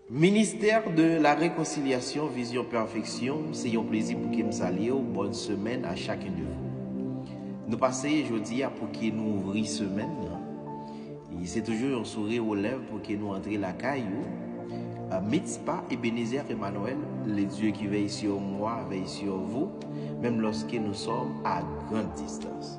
Ministère de la reconciliation vision perfection se yon plezi pou kem salyew bonne semaine à chacun de vous nou pase jodia pou ke nou ouvri semèn nan e se toujou yon sourire aux lèvres pou ke nou antre lakay ou Mitspa Ebenezer Emmanuel le Dieu qui veille sur moi veille sur vous menm lorsque nous sommes à grande distance.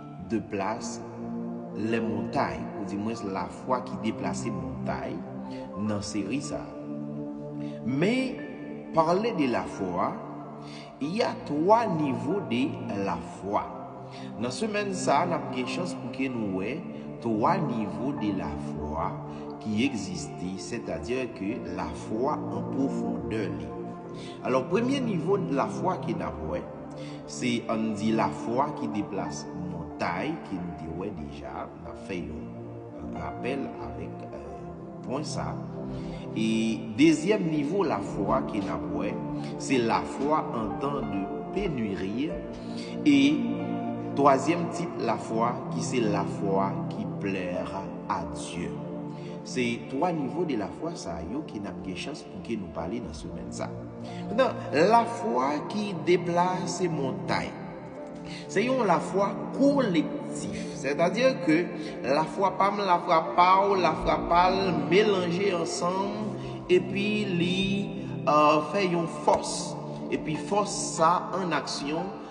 2 plas, lè montay, ou di mwens lafwa ki deplase montay nan seri sa a. Men, pale de lafwa, y a 3 nivo de lafwa. Nan semèn sa a, n ap gen chans pou ke nou wè 3 nivo de lafwa ki egziste, sètadi ke lafwa an pwofondè li. Alò, premye nivo lafwa ke n ap wè, Se ann di lafwa ki deplase montay ke nou te wè deja, n ap fè yon rapèl avèk pwen sa. E dezyèm nivo lafwa ke n ap wè, se lafwa an tan de penuri. E twazyèm tip lafwa ki se lafwa ki plèr a Dye. Se twa nivo de lafwa sa yo ke n ap gen chans pou ke nou pale nan semèn sa. Poutan, lafwa ki deplase montay, se yon lafwa kolektif. Sètadi ke lafwa pa m, lafwa pa w, lafwa pa l melanje ansanm epi li fè yon fòs. Epi fòs sa an aksyon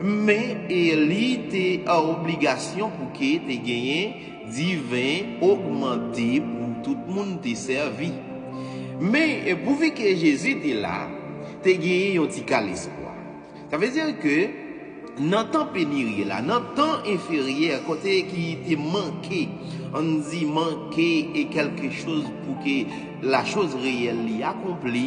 Men li te an obligasyon pou ke te genyen diven ogmante pou tout moun te sèvi. Men pouvi ke Jezi te la, te genyen yon ti kal espwa. Sa vle di ke nan tan peniri la, nan tan enferyè kote ki te manke, ann di manke e kèlke choz pou ke la choz reyèl li akonpli,